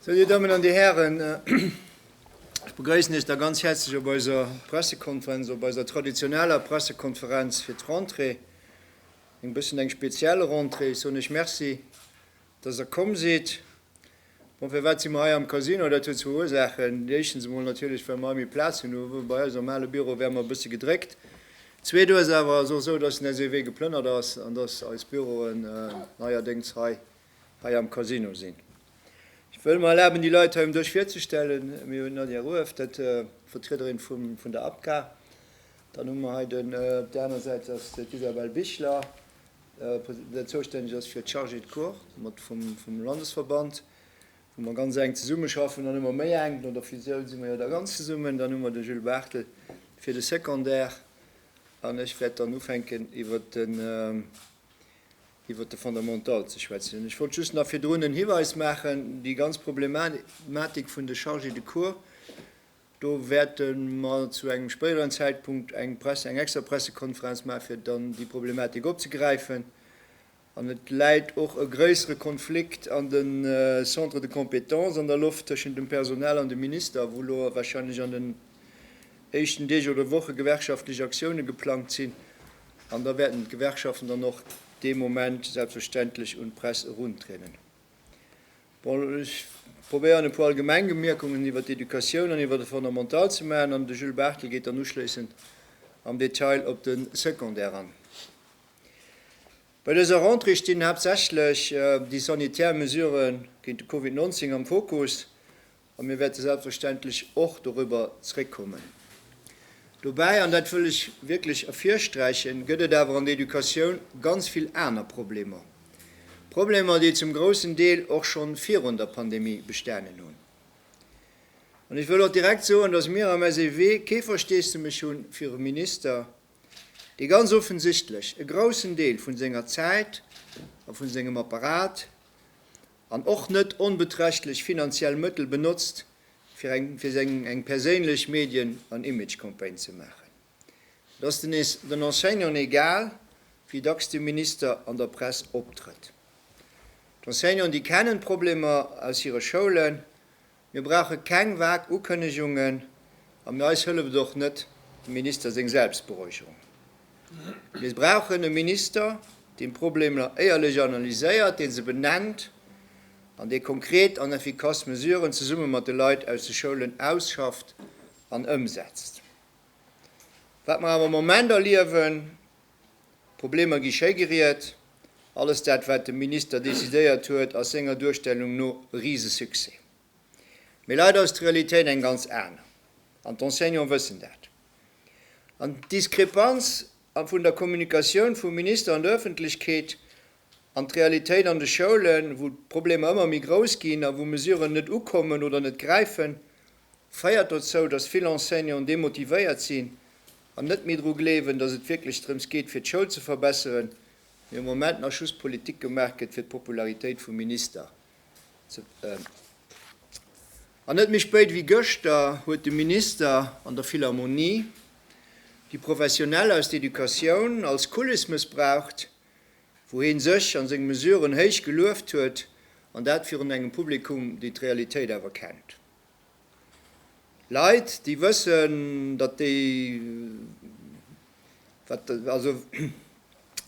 Sou, Dir Dammen an Dir Hären, ech begrëissen Iech da ganz häerzlech op eiser Pressekonferenz, op eiser traditioneller Pressekonferenz fir d'Rentrée, eng bëssen eng speziell Rentrée. Ech soen Iech Merci Dass Der komm sidd. Bon, firwat si mer hei am Casino? Dat huet zwou Ursaachen. Déi éischtens emol natierlech, well mer hei méi Plaz hunn. Hu mer bei eis am ale Büro wäre mer e bësse gedréckt. Zweet Ursaach ass och esou, dass den SEW geplënnert ass an dass eis Büroen neierdéngs hei, hei am Casino sinn. Ech wëll mer erlaben, déi Leit hei um Dësch virzestellen. Mir hunn d'Nadia Rueff, dat d'Vertriederin vum, vun der APCA. Dann hu mer hei den, op där aner Säit ass d'Isabelle Bichler. deen zoustänneg ass fir d'Chargés de cours, mat vum Landesverband, wou mer ganz enk zesummeschaffen, dann hu mer méi enk, no der Fusioun si mer jo da ganz zesummen, dann hu mer de Jules Barthel fir de Secondaire an ech wäert dann ufänken iwwert de Fondamental ze schwätzen. Ech wollt just nach virdrun en Hiweis maachen, déi ganz Problematik vun de Chargés de cours, Do wäerte mer zu engem spéideren Zäitpunkt eng Presse, eng extra Pressekonferenz maachen, fir dann déi Problematik opzegräifen. An et läit och e gréissere Konflikt an de Centres de compétences an der Loft tëschent dem Personal an dem Minister, wou elo warscheinlech an den éischten Deeg oder Woche gewerkschaftlech Aktioune geplangt sinn. An da wäerten d'Gewerkschaften dann och dee Moment selbstverständlech un d'Press eruntrieden. Bon, ech probéieren, e puer allgemeng Bemierkungen iwwert d'Educatioun an iwwert e Fondamental ze maachen, an de Jules Barthel geet dann uschléissend am Detail op de Secondaire an. Bei dëser Rentrée stinn haaptsächlech déi sanitär Mesurë géint de Covid 19 am Fokus. A mir wäerte selbstverständlech och dorüber zréckkommen. Dobäi, an dat wëll ech wierklech ervirsträichen, gëtt et awer an der Educatioun ganz vill aner Problemer, Problemer, déi zum groussen Deel och scho virun der Pandemie bestanen hunn. An ech wëll och direkt soen, dass mir am SEW kee Versteesdemech hu fir e Minister, dee ganz offensichtlech e groussen Deel vu senger Zäit a vu sengem Apparat an och net onbeträchtlech finanziell Mëttel benotzt, fir eng fir seng eng perséinlech Medien an Image-Campagne ze maachen. Et ass den den Enseignanten egal, wéi dacks de Minister an der Press optrëtt. D'Enseignanten, déi kennen d'Problemer aus hire Schoulen. Mir brauche keng vag Ukënnegungen a mir eis hëlleft och net dem Minister seng Selbstberäucherung. Mir brauchen e Minister, deen d'Problemer éierlech analyséiert, dee se benennt an dee konkret an effikass Mesuren zesumme mat de Leit aus de Schoulen ausschafft an ëmsetzt. Wat mer awer am Moment erliewen, D'Problemer gi schéigeriet. Alles dat wat de Minister decidéiert huet ass senger Duerstellung no e Risesuccès. Mee leider ass d'Realitéit eng ganz aner. An d'Enseignanten wëssen dat. An d'Diskrepanz vun der Kommunikatioun vum Minister an der Ëffentlechkeet an d'Realitéit an de Schoulen, wou d'Problemer ëmmer méi grouss ginn a wou Mesuren net ukommen oder net gräifen, féiert dozou, datt vill Enseignanten demotivéiert sinn An net méi dru gleewen, datt et wierklech drëms geet fir d'Schoul ze verbesseren, mee am Moment nach just Politik gemaach gëtt fir d'Popularitéit vum Minister ze An net méi spéit ewéi gëschter huet de Minister an der Philharmonie déi Professionell aus der Educatioun als Kuliss mëssbraucht, wou hee sech a seng Mesuren héich gelueft huet, an dat virun engem Publikum, déi d'Realitéit awer kennt. Leit déi wëssen datt déi also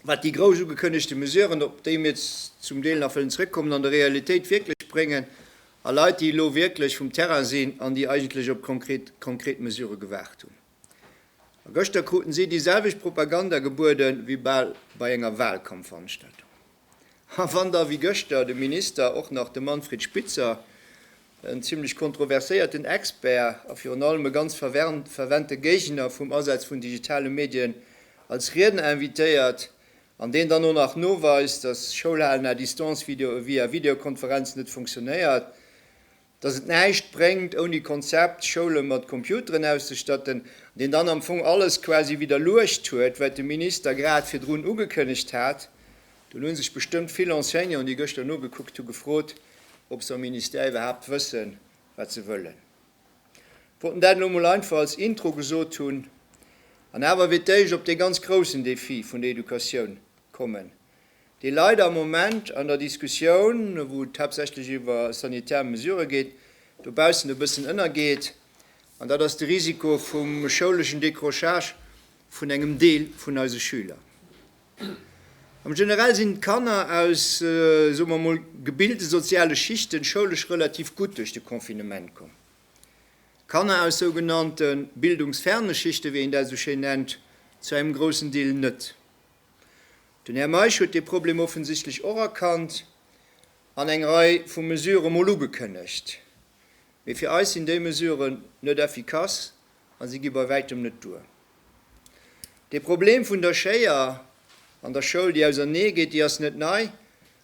wat déi grouss ugekënnegte Mesuren, op déi mir zum Deel nach wëllen zrëckkommen, an der Realitéit wierklech bréngen, a Leit déi elo wierklech vum Terrain sinn an déi eigentlech op konkret Mesurë gewaart hunn. A gëschter kruten si déi selwecht Propaganda gebueden, wéi bal bei enger Wahlkampfveranstaltung. A wann da wéi gëschter de Minister och nach de Manfred Spitzer, en zimlech kontroverséierten Expert a virun allem e ganz fervente Géigner vum Asaz vun digitale Medien, als Riedner invitéiert, an deen dann och nach noweist, datt Schoulhalen à distance via Videokonferenz net funktionéiert, dass et näischt bréngt ouni Konzept Schoule mat Computeren auszestatten, an deen dann am Fong alles quasi widderluecht huet, wat de Minister grad virdrun ugekënnegt hat. Dunn hu sech bestëmmt vill Enseignanten, déi gëschter nogekuckt hu, gefrot, ob se am Ministère iwwerhaapt wëssen, wat se wëllen. Ech wollt en dat elo mol einfach als Intro gesot hunn an awer fir d'éischt op dee ganz groussen Defi vun der Educatioun kommen, dee leider am Moment an der Diskussioun, wou et haaptsächlech iwwer sanitär Mesurë geet, dobaussen e bëssen ënnergeet, an dat ass de Risiko vum schouleschen Décrochage vun engem Deel vun eise Schüler. Am Generell sinn d'Kanner aus, soe mer emol, gebilte soziale Schichten schoulesch relativ gutt duerch de Confinement komm. Kanner aus sougenannte bildungsferne Schichten, wéi een dat esou schéin nennt, zu engem groussen Deel net. Den Här Meisch huet dee Problem offensichtlech och erkannt an eng Rei vu Mesurë mol ugekënnegt. Mee fir eis sinn déi Mesuren net effikass a si gi bei wäitem net duer. Dee Problem vun der Schéier an der Schoul, déi ausernee geet, déi ass net nei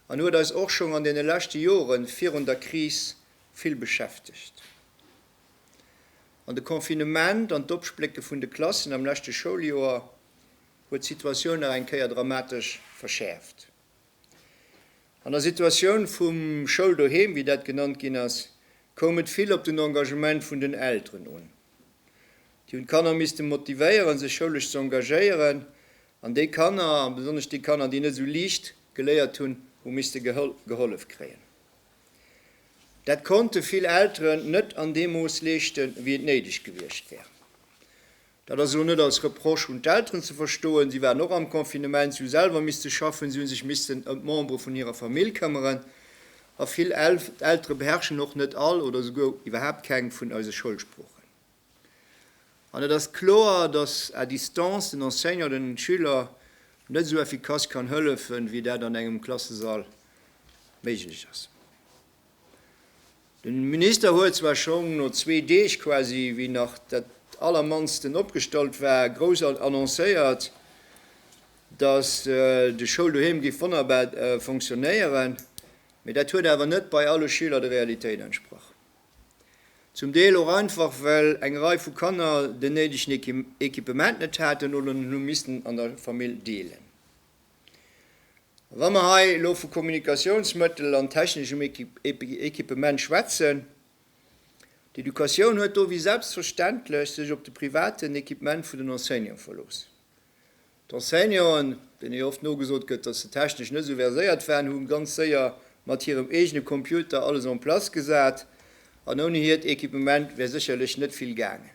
an huet eis och schonn an deene leschte Jore virun der Kris vill beschäftegt. An de Confinement an d'Opsplécke vun de Klassen am leschte Schouljoer huet d'Situatioun nach eng Kéier dramatesch verschäerft. An der Situatioun vum Schouldoheem, wéi dat genannt ginn ass, koum et vill op den Engagement vun den Elteren un. Déi hunn d'Kanner misste motivéieren, sech schoulesch ze engagéieren, an déi Kanner, a besonnesch déi Kanner, déi net esou liicht geléiert hunn, hu misste gehollef kréien. Dat konnte vill Elteren net an deem Mooss leeschten, wéi et néideg gewiescht wär. Dat ass elo net als Reproche un d'Elteren ze verstoen. Si waren och am Confinement, si hu selwer misste schaffen, si hu sech missten ëm d'Membere vun hirer Famill këmmeren. A vill Eltere beherrschen och net all oder souguer iwwerhaapt keng vun eise Schoulsproochen. An et ass kloer, dass à distance den Enseignant den Schüler net esou effikass kann hëllefen, wéi dat an engem Klassesall méiglech ass. De Minister huet zwar schonn no zwee Deeg, quasi wéi nach dat allermannsten opgestallt war, grouss annoncéiert, datt de Schouldoheem géif wonnerbar fonctionnéieren, mee dat huet awer net bei alle Schüler der Realitéit entsprach. Zum Deel och einfach, well eng Rei vu Kanner den néidegen Equipement net haten oder en hu missten an der Famill deelen. Wa mer hei elo vu Kommunikationsmëttel an techneschem Equipement schwätzen, d'Educatioun huet do wéi selbstverständlech sech op de privaten Equipement vun den Enseignanten verlooss. D'Enseignanten, deene jo oft nogesot gëtt, datt se technesch net esou verséiert waren, hu ganz séier mat hirem eegene Computer alles en place gesat an ouni hiert Equipement wär sécherlech net vill gaangen.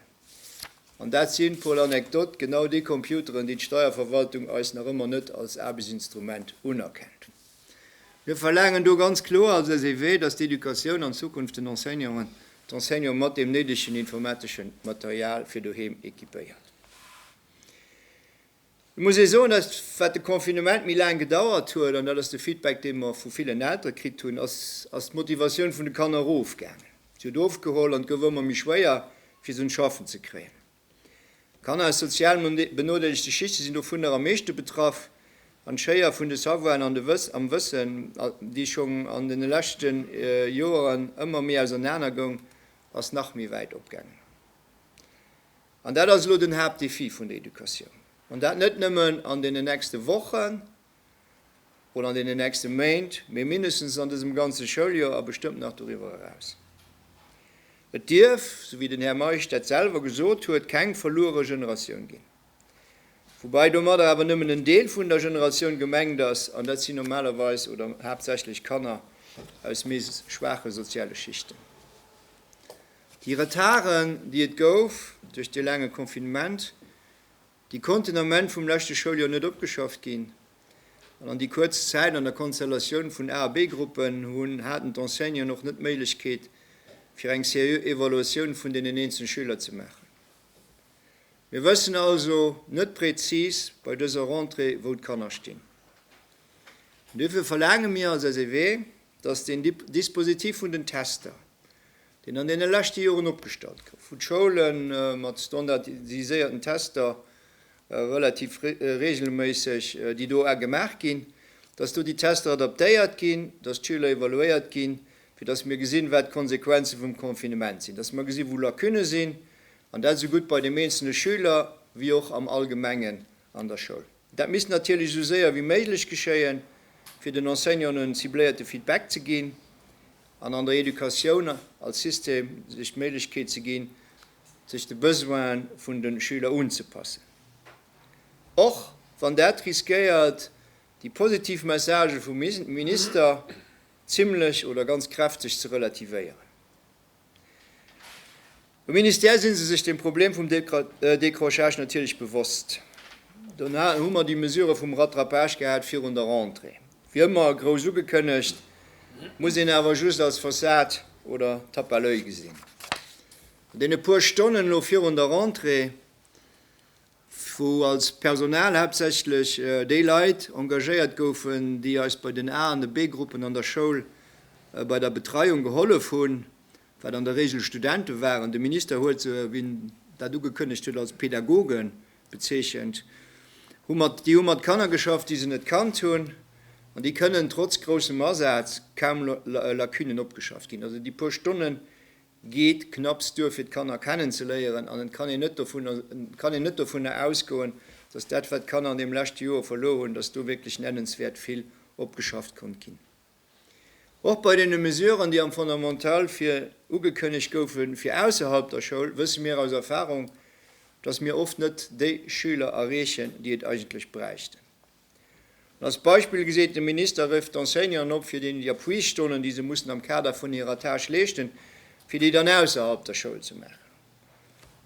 An dat sinn, pour l'anecdote, genau déi Computeren, déi d'Steierverwaltung eis nach ëmmer net als Aarbechtsinstrument unerkennt. Mir verlaangen do ganz kloer als SEW, dass d'Educatioun an Zukunft den Enseignanten, d'Enseignanten mat deem néidegen informateschen Material fir doheem équipéiert. Et muss ee soen, datt wat de Confinement méi laang gedauert huet, an dat ass de Feedback dee mer vu villen Eltere kritt hunn, ass ass d'Motivatioun vun de Kanner erofgaangen. Si huet ofgeholl an et gouf ëmmer méi schwéier fir se un d'Schaffen ze kréien. Kanner aus sozial benodeelegte Schichte sinn dovunner am meeschte betraff an d'Schéier vun de Savoiren an de am Wëssen, déi schonn an deene leschte Joeren ëmmer méi ausernaner goung, ass nach méi wäit opgaangen. An dat ass elo den Haaptdéfi vun der Educatioun, an dat net nëmmen an deenen nächste Wochen oder an deenen nächste Méint, mee mindestens an dësem ganze Schouljoer a bestëmmt nach doriwwer eraus. Et dierf, esou wéi den Här Meisch dat selwer gesot huet, keng verluere Generatioun ginn. Woubäi domadder awer nëmmen en Deel vun der Generatioun gemengt ass, an dat sinn normalerweis oder haaptsächlech Kanner aus méi schwaache soziale Schichten. Déi Retarden, déi et gouf duerch dee laange Confinement, déi konnten am Enn vum leschte Schouljoer net opgeschafft ginn. An an déi kuerz Zäit an der Konstellatioun vun A a B-Gruppen hunn, haten d'Enseignanten och net d'Méiglechkeet, fir eng seriö Evaluatioun vun deenen eenzelen Schüler ze maachen. Mir wëssen also net präzis bei dëser Rentrée, wou d'Kanner stinn. An duerfir verlaange mir als SEW, dass den Dispositif vun den Tester, deen an deene leschte Joren opgestallt gouf, wou d'Schoule mat standardiséierten Tester relativ reegelméisseg déi do gemaach ginn, dass do déi Tester adaptéiert ginn, dass d'Schüler evaluéiert ginn, fir dass mir gesinn, wat d'Konsequenze vum Confinement sinn, dass mer gesinn, wou Lacunë sinn, an dat esou gutt bei deem eenzelne Schüler wéi och am Allgemengen an der Schoul. Dat misst natierlech esou séier wéi méiglech geschéien, fir den Enseignanten en cibléierte Feedback ze ginn an an der Educatioun als System sech d'Méiglechkeet ze ginn, sech de Besoine vun de Schüler unzepassen, och wann dat riskéiert, déi positiv Messagë vum Minister zimlech oder ganz kräfteg ze relativéieren. Um Ministère si se sech dem Problem vum Décrochage natierlech bewosst. Dono hu mer déi Mesure vum Rattrapage gehat virun der Rentrée. Wéi ëmmer grouss ugekënnegt, muss een awer just als Fassad oder Tape à l'oeil gesinn. An deene puer Stonnen elo virun der Rentrée, wou als Personal haaptsächlech déi Leit engagéiert goufen, déi eis bei den A an de B-Gruppen an der Schoul bei der Betreiung gehollef hunn, wat an der Regel Studente waren. De Minister huet se, wéi en dat ugekënnegt huet, als Pädagoge bezeechent. Déi hu mat Kanner geschafft, déi se net kannt hunn, an déi kënnen trotz groussem Asaz kaum Lacunen opgeschafft ginn. Also déi puer Stonnen, geet knapps duer fir d'Kanner kennenzeléieren an et kann een net dovunner kann een net dovunner ausgoen, dass dat wat d'Kanner an deem leschte Joer verluer hunn, dass do wierklech nennenswäert vill opgeschafft konnt ginn. Och bei deene Mesuren déi am Fondamental fir ugekënnegt goufe fir ausserhalb der Schoul, wësse mir aus Erfahrung, dass mir oft net déi Schüler erreechen, déi et eigentlech bräichten. Als Beispill geséit de Minister Rëff d'Enseignanten op, fir deenen déi Appuisstonnen, déi se mussen am Kader vun hirer Tâche leeschten, fir déi dann ausserhalb der Schoul ze maachen.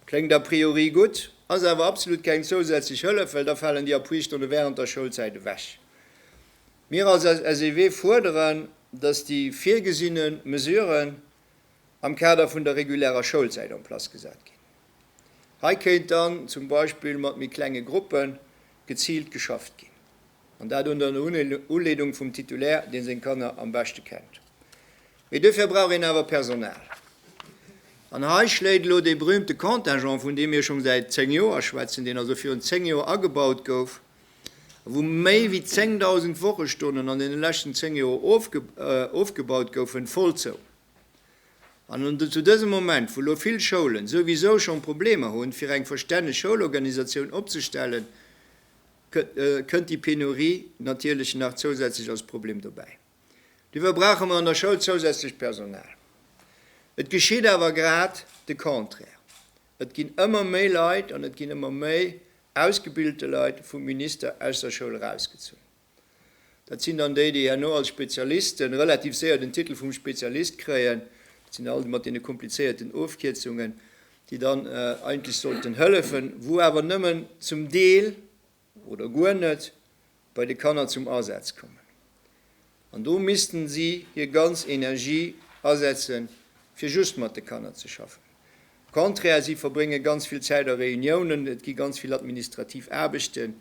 Kléngt a priori gutt, ass awer absolut keng zousätzlech Hëllef, well da falen déi Appuiststonne während der Schoulzäit ewech. Mir als SEW fuerderen, dass déi virgesinne Mesuren am Kader vun der regulärer Schoulzäit en place gesat ginn. Hei kéint dann zum Beispill mat méi klenge Gruppe geziilt geschafft ginn, an dat ënner Uleedung vum Titulaire, dee seng Kanner am beschte kennt. Mee dofir brauch een awer Personal. An hei schléit elo dee berühmte Contingent, vun deem mir schonn säit zéng Joer schwätzen, deen also virun zéng Joer agebaut gouf, a wou méi wéi 10.000 Wochestonnen an deene leschten zéng Joer ofgebaut goufen, voll zou. An un zu dësem Moment, wou elo vill Schoulen souwisou schonn Problemer hunn, fir eng verstänneg Schoulorganisatioun opzestellen, kënnt déi Penurie natierlech nach zousätzlech als Problem dobäi. Duerfir brauche mer an der Schoul zousätzlecht Personal. Et geschitt awer grad de Contraire, Et ginn ëmmer méi Leit an et ginn ëmmer méi ausgebilte Leit vum Minister aus der Schoul erausgezunn. Dat sinn dann déi, déi herno als Spezialisten relativ séier den Titel vum Spezialist kréien. Dat sinn all déi mat deene komplizéierten Ofkierzungen, déi dann eigentlech sollten hëllefen, wou awer nëmmen zum Deel oder guer net bei de Kanner zum Asaz kommen. An do missten si hir ganz Energie asetze fir just mat de Kanner ze schaffen. Au contraire, si verbrénge ganz vill Zäit a Reuniounen, et gi ganz vill administrativ Aarbechten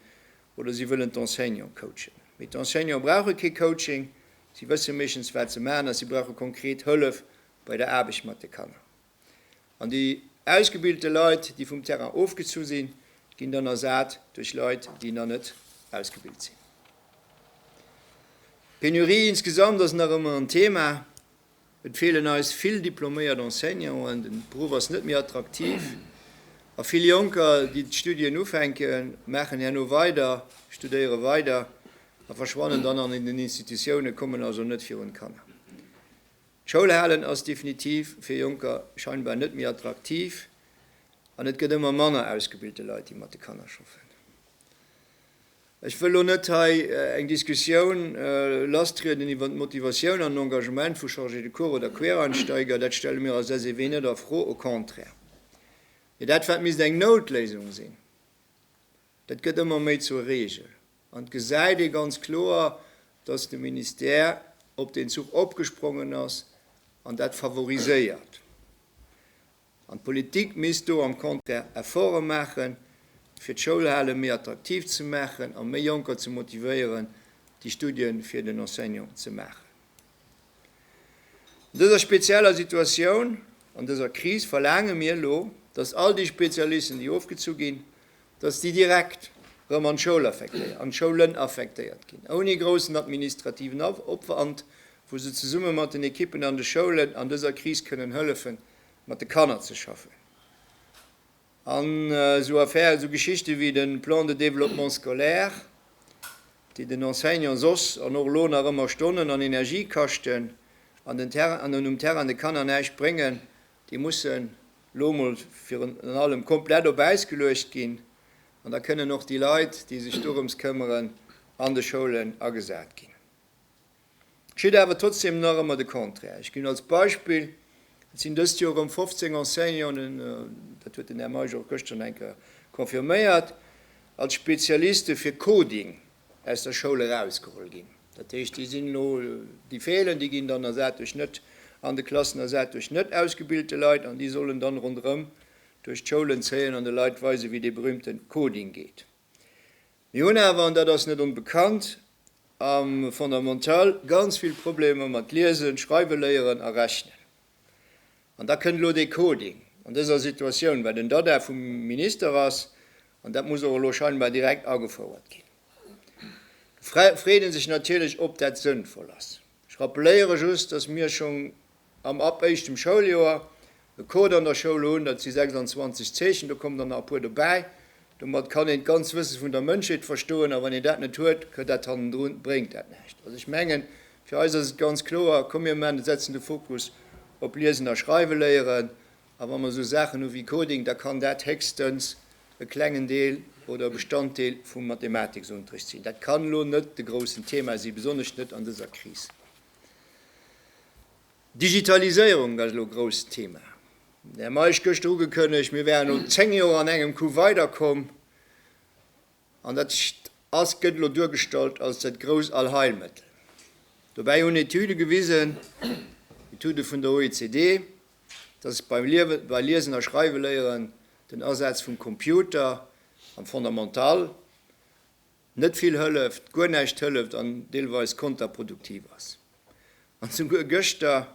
Oder si wëllen d'Enseignante coachen, mee d'Enseignante brauche kee Coaching. Si wësse meeschtens, wat se maachen, a si brauche konkret Hëllef bei der Aarbecht mat de Kanner. An déi ausgebilte Leit, déi vum Terrain ofgezu sinn, ginn dann ersat duerch Leit, déi nach net ausgebilt sinn. D'Penurie insgesamt ass nach ëmmer en Thema. Et feelen eis vill diploméiert Enseignanten, den Beruff ass net méi attraktiv a vill Jonker, déi d'Studien ufänken, maachen herno weider, studéiere weider a verschwannen dann an den Institutiounen, kommen also net virun d'Kanner. D'Schoul halen ass definitiv fir Jonker scheinbar net méi attraktiv an et gëtt ëmmer manner ausgebilte Leit, déi mat de Kanner schaffen. Ech wëll elo net hei eng Diskussioun lassrieden iwwer d'Motivatioun an den Engagement vu Chargés de cours oder Quereinsteiger, dat stelle mir als SEW net a Fro, au contraire. Mee dat, wat misst eng Noutléisung sinn, dat gëtt ëmmer méi zur Reegel. An et gesäit ee ganz kloer, dass de Ministère op deen Zuch opgesprongen ass an dat favoriséiert. An d'Politik misst do am Contraire Efforte maachen, fir d'Schoulhale méi attraktiv ze maachen a méi Jonker ze motivéieren, déi Studie fir den Enseignant ze maachen. An dëser spezieller Situatioun, an dëser Kris verlaange mir elo, dass all déi Spezialisten, déi ofgezu ginn, dass déi direkt erëm an d'Schoulen affektéiert ginn, ouni groussen administrativen Opwand, wou se zesumme mat den Ekippen an de Schoulen an dëser Kris kënnen hëllefen, mat de Kanner ze schaffen an esou Affären, esou Geschichte wéi de Plan de développement scolaire, déi den Enseignant soss an och elo nach ëmmer Stonnen an Energie kaschten an den Terrain an um Terrain de Kanner näischt bréngen, déi mussen elo emol virun allem komplett op Äis geluecht ginn an da kënnen och déi Leit, déi sech dorëms këmmeren, an de Schoulen agesat ginn. Geschitt awer trotzdeem nach ëmmer de Contraire. Ech ginn als Beispill, Et sinn dëst Joer erëm 15 Enseignanten, dat huet den Här Meisch och gëschter nach eng Kéier confirméiert, als Spezialiste fir Coding aus der Schoul erausgeholl ginn. Dat heescht, déi sinn elo, déi feelen, déi ginn dann ersat duerch net an de Klassen ersat duerch net ausgebilte Leit an déi sollen dann ronderëm duerch d'Schoulen zéien an de Leit weisen, wéi dee berühmten Coding geet. Mir hunn awer, an dat ass net onbekannt, am Fondamental ganz vill Problemer mat Liesen, Schreiwe léieren a Rechnen. An da kënnt elo dee Coding an dëser Situatioun, wat en Dada vum Minister ass, an dat muss och elo scheinbar direkt agefouert ginn. Do freet ee sech natierlech, ob dat sënnvoll ass. Ech rappeléiere just, dass mir schonn am ab éischtem Schouljoer e Code an der Schoul hunn, dat si 26 Zeechen, do kommen der nach e puer dobäi, domat kann een d'ganz Wësse vun der Mënschheet verstoen, a wann een dat net huet, gëtt dat hannendrun, bréngt dat näischt. Also ech mengen, fir eis ass et ganz kloer, komm mir man, setzen de Fokus op Liesen a Schreiwe léieren, a wa mer esou Saachen hu wéi Coding, da kann dat héchstens e klengen Deel oder e Bestanddeel vum Mathematiksunterricht sinn. Dat kann elo net de groussen Thema si, besonnesch net an dëser Kris. D'Digitaliséierung, dat ass elo e grousst Thema. Den Här Meisch gëschter ugekënnegt, mir wären no zéng Joer an engem Coup weiderkomm. An dat ass, gëtt elo duergestallt als dat grousst Allheilmëttel. Dobäi hunn Etüde gewisen, Etüde vun der OECD, dass beim Liewe, bei Liesen a Schreiweléieren den Asaz vum Computer am Fondamental net vill hëlleft, guer näischt hëlleft an deelweis konterproduktiv ass. An souguer gëschter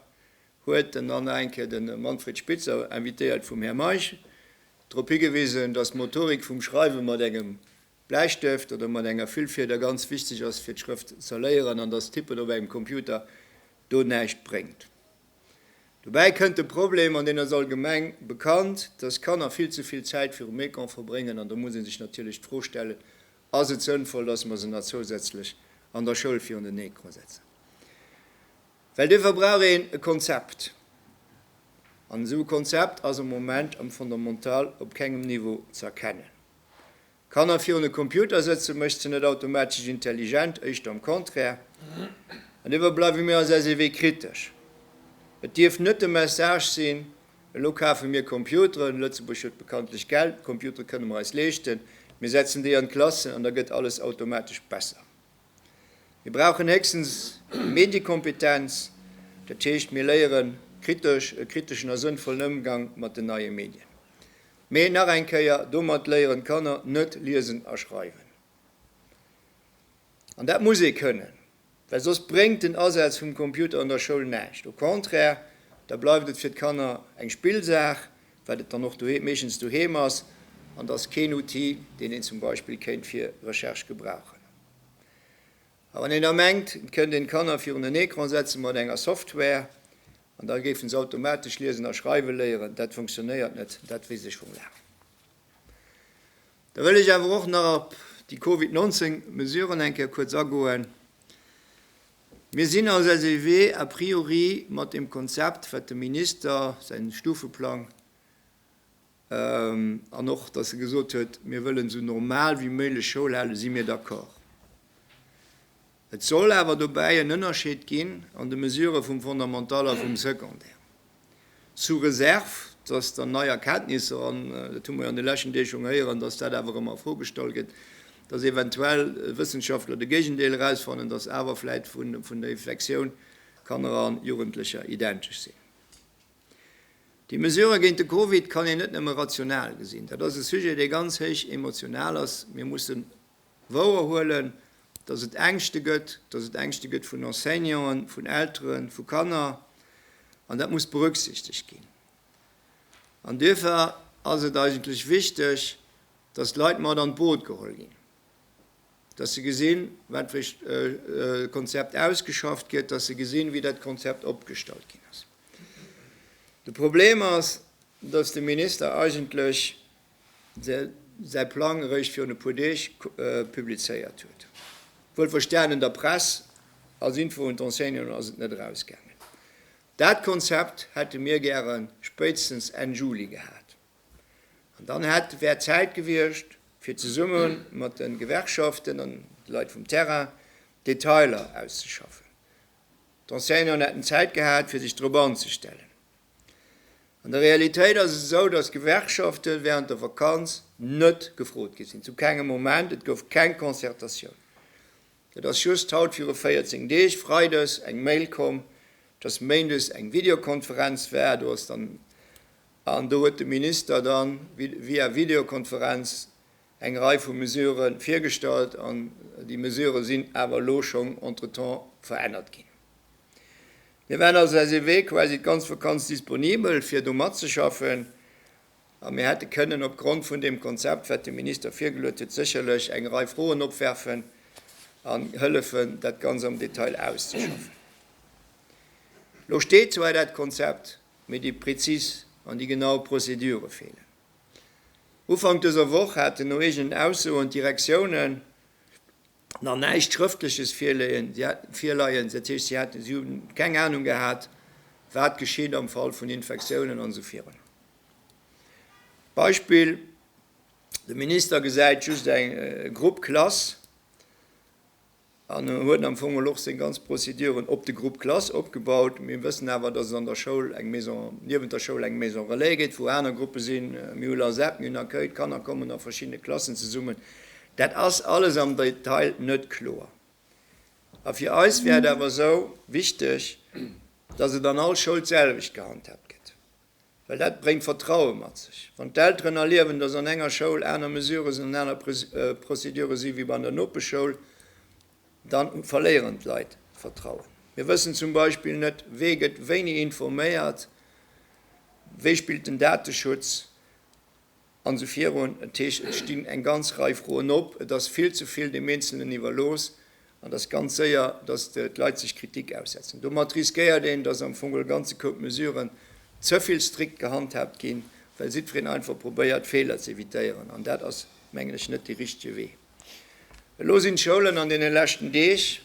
huet den Anne Encke de Manfred Spitzer, invitéiert vum Här Meisch, drop higewisen, datt d'Motorik vum Schreiwe mat engem Bläistëft oder mat enger Fillfieder ganz wichteg ass, fir d'Schrëft z'erléieren, an datt d'Tippen op engem Computer do näischt bréngt. Dobäi kënnt de Problem, an deen ass allgemeng bekannt, dass Kanner vill ze vill Zäit virum Ecran verbréngen. An do muss ee sech natierlech d'Fro stellen, Ass et sënnvoll, dass mer se nach zousätzlech an der Schoul virun den Ecran setzen? Well duerfir brauch een e Konzept. An esou e Konzept ass am Moment am Fondamental op kengem Niveau ze erkennen. Kanner virun e Computer sëtzen mécht se net automatesch intelligent, éischter am Contraire. An dofir bleiwe mir als SEW kritesch. Et dierf net de Message sinn, elo kafe mir Computeren, Lëtzebuerg huet bekanntlech Geld, d'Computere kënne mer eis leeschten, mir setzen déi an d'Klassen an da gëtt alles automatesch besser. Mir brauchen héchstens Mediekompetenz, dat heescht, mir léieren kritesch, e kriteschen a sënnvollen Ëmgang mat den neie Medien. Mee nach eng Kéier, domat léieren d'Kanner net liesen a schreiwen. An dat muss ee kënnen, well soss bréngt den Asaz vum Computer an der Schoul näischt. Au contraire, da bleift et fir d'Kanner eng Spillsaach, wat et dann och doheem meeschtens doheem ass, an et ass keen Outil, deen een zum Beispill kéint fir Recherche gebrauchen. A wann een da mengt, et kënnt een d'Kanner virun en Ecran setzen mat enger Software an da géifen se automatesch liesen a schreiwe léieren, dat funktionéiert net, dat weess ech vum Laang. Da wëll ech awer och nach op déi Covid 19 Mesuren eng Kéier kuerz agoen. Mir sinn als SEW a priori mat deem Konzept, wat dem Minister säin Stufeplang, An och, dass e gesot huet, Mir wëllen esou normal wéi méiglech Schoul halen, si mir d'accord. Et soll awer dobäi en Ënnerscheed ginn an de Mesurë vum Fondamental a vum Secondaire, sous réserve, dass dann nei Erkenntnisser, an dat hu mer jo an de leschten Deeg schonn héieren, dass dat awer ëmmer a Fro gestalt gëtt, dass eventuell Wëssenschaftler de Géigendeel erausfannen, dass awer vläit vun der Infektioun Kanner a Jugendlecher identesch sinn. Déi Mesurë géint de Covid kann een net nëmme rational gesinn. Dat ass e Sujet, dee ganz héich emotional ass. Mir mussen wouer huelen, datt et Ängschte gëtt, datt et Ängschte gëtt vun Enseignanten, vun Elteren, vu Kanner. An dat muss berücksichtegt ginn. An duerfir ass et eigentlech wichteg, datt d'Leit mat an d'Boot geholl ginn. dass se gesinn, wat fir e Konzept ausgeschafft gëtt, dass se gesinn, wéi dat Konzept opgestallt ginn ass. De Problem ass, dass de Minister eigentlech säi Plang eréischt virun e puer Deeg publizéiert huet, wuel verstanen an der Press, als Info un d'Enseignanten ass et net erausgaangen. Dat Konzept hätte mir gäre spéitstens Enn Juli gehat. An dann hätt wär d'Zäit gewiescht, fir zesumme mat de Gewerkschaften an de Leit vum Terrain d'Detailer auszeschaffen. D'Enseignanten hätten Zäit gehat, fir sech dorop anzestellen. An der Realitéit ass et esou, dass d'Gewerkschafte während der Vakanz net gefrot gi sinn, zu kengem Moment. Et gouf keng Concertatioun. Et ass just haut viru 14 Deeg, freides, eng Mail komm, dass méindes eng Videokonferenz war. Do ass dann An do huet de Minister da via Videokonferenz eng Rei vu Mesurë virgestallt. An déi Mesurë sinn awer elo schonn entretemps verännert ginn. Mir waren also eis Ewee quasi d'ganz Vakanz disponibel, fir do matzeschaffen. A mir hätte kënnen opgrond vun deem Konzept, wat de Minister virgeluet huet, sécherlech eng Rei Froen opwerfen an hëllefen, dat Ganzt am Detail auszeschaffen. Elo steet zwar dat Konzept, mee déi prezis an déi genau Prozedure feelen. Ufank dëser Woch haten no eegenen Aussoen d'Direktiounen nach näischt Schrëftleches virleien, dat heescht si hunn keng Anung gehat, wat geschitt am Fall vun Infektiounen an esou virun. Beispill, De Minister gesäit just e Grupp Klass, An e huet am Fong mol och seng ganz Proceduren op de Groupe classe opgebaut. Mir wëssen awer, dass et an der Schoul eng Maison, niewent der Schoul eng Maison relais gétt, wou aner Gruppe sinn. Mir hu LASEP, mir hunn Accueil, d'Kanner kommen a verschiddene Klassen zesummen. Dat ass alles am Detail net kloer. A fir eis wär et awer esou wichteg, dass et an all Schoul d'selwecht gehandhaabt gëtt. Well dat bréngt Vertraue mat sech. Wann d'Elteren erliewen, dass an enger Schoul aner Mesures an aner Procédure si wéi an der Nopeschschoul, da verléieren d'Leit d'Vertrauen. Mir wëssen zum Beispill net, wee gëtt wéini informéiert, wéi spillt den Dateschutz. An esou virun. Dat heescht, et stinn eng ganz Rei Froen op, et ass vill ze vill deem Eenzelnen iwwerlooss an et ass ganz séier, datt d'Leit sech Kritik aussetzen. Domat riskéiert een, datt am Fong e ganze Koup Mesuren ze vill strikt gehandhaabt ginn, well jiddwereen einfach probéiert, Feeler ze evitéieren. An dat ass, mengen ech, net dee richtege Wee. Elo sinn d'Schoulen an deene leschten Deeg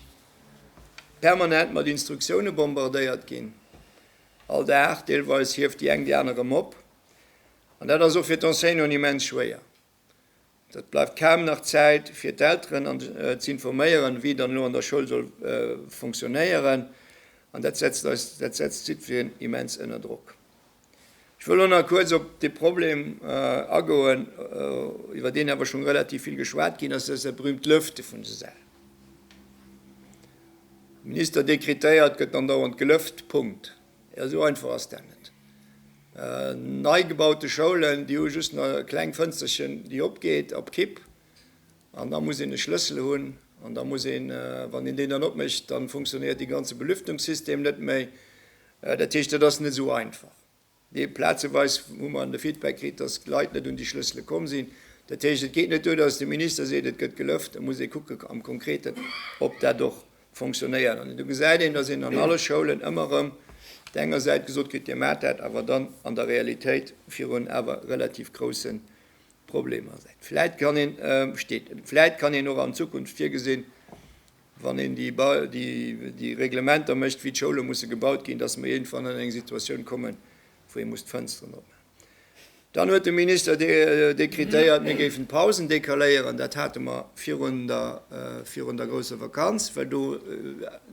permanent mat Instruktioune bombardéiert ginn, all Dag deelweis hieft déi eng déi aner erëm op. An dat ass och fir d'Enseignanten immens schwéier. Et bleift kaum nach Zäit fir d'Elteren ze informéieren, wéi dann elo an der Schoul soll funktionéieren. An dat setzt eis, dat setzt d'Citoyenne immens ënner Drock. Ech wëll elo nach kuerz op dee Problem agoen, iwwer deen awer schonn relativ vill geschwat ginn ass, dat ass dat berühmt Lëfte vun de Säll. Minister dekretéiert, gëtt andauernd gelëft, Punkt. Jo, esou einfach ass dat net. Nei gebaute Schoulen, déi hu just nach e kleng Fënsterchen, déi opgeet op Kipp, an da muss een e Schlëssel hunn, an da muss een, wann een deen dann opmécht, da funktionéiert dee ganze Belüftungssystem net méi. Dat heescht, dat ass net esou einfach. Dee plazeweis hu mer de Feedback kritt, datt d'Leit net un déi Schlëssele komm sinn. Dat heescht, et geet net duer, datt de Minister seet, et gëtt gelëft, da muss ee kucken am Konkreten, ob dat och fonctionnéieren. An do gesäit een, datt een an alle Schoulen ëmmer erëm op der enger Säit gesot kritt, Dir maacht dat, awer dann an der Realitéit virun awer relativ grousse Problemer säit. Vläit kann een, steet, vläit kann een och an Zukunft virgesinn, wann een déi Reglementer mécht, wéi d'Schoule musse gebaut ginn, datt mer iergendwann an eng Situatioun kommen, wou ee muss d'Fënsteren opmaachen. Dann huet de Minister dekretéiert, mir géifen d'Pausen decaléieren. Dat hate mer virun der grousser Vakanz, well do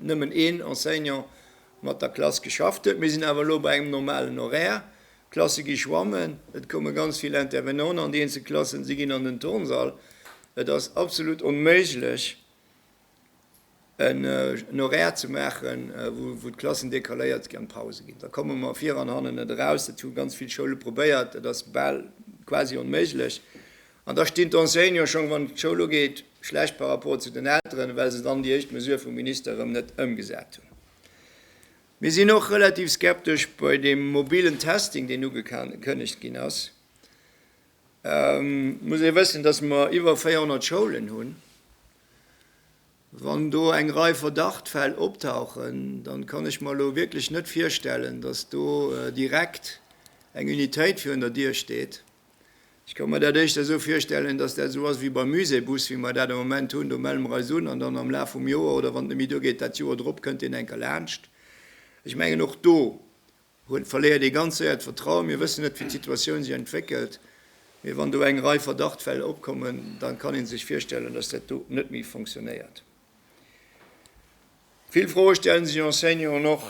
nëmmen een Enseignant mat der Klass geschafft huet. Mir sinn awer elo bei engem normalen Horaire. D'Klasse gi schwammen, et komme ganz vill Intervenanten an déi eenzel Klassen, si ginn an den Turnsall. Et ass absolut onméiglech, en Horaire ze maachen, wou d'Klassen decaléiert ginn an d'Pause ginn. Da komme mer vir an hannen net eraus. Dat hu ganz vill Schoule probéiert. Dat ass bal quasi onméiglech. An da stinn d'Enseignanten schonn, wann d'Schoul ugeet, schlecht par rapport zu den Elteren, well se dann déi éischt Mesure vum Minister erëm net ëmgesat hunn. Mir sinn och relativ skeptesch bei deem mobilen Testing, deen ugekënnegt ginn ass. Et muss ee wëssen, dass mer iwwer 400 Schoulen hunn, Wann do eng Rei Verdachtfäll optauchen, dann kann ech mer elo wierklech net virstellen, dass do direkt eng Unitéit virun der Dier steet. Ech ka mer dat éischter esou virstellen, dass dat esou ass wéi beim Muséebus, wéi mer dat am Moment hunn, do melle mer eis un an dann am Laf vum Joer oder wann et net méi duergeet dat Joer drop kënnt deen enker laanscht. Ech mengen och do Huet, verléiert ee ganz séier d'Vertrauen. Mir wëssen net, wéi d'Situatioun sech entwéckelt, mee wann do eng Rei Verdachtfäll opkommen, da kann ee sech virstellen, dass dat do net méi fonctionnéiert. Vill Froe stelle sech Enseignanten och,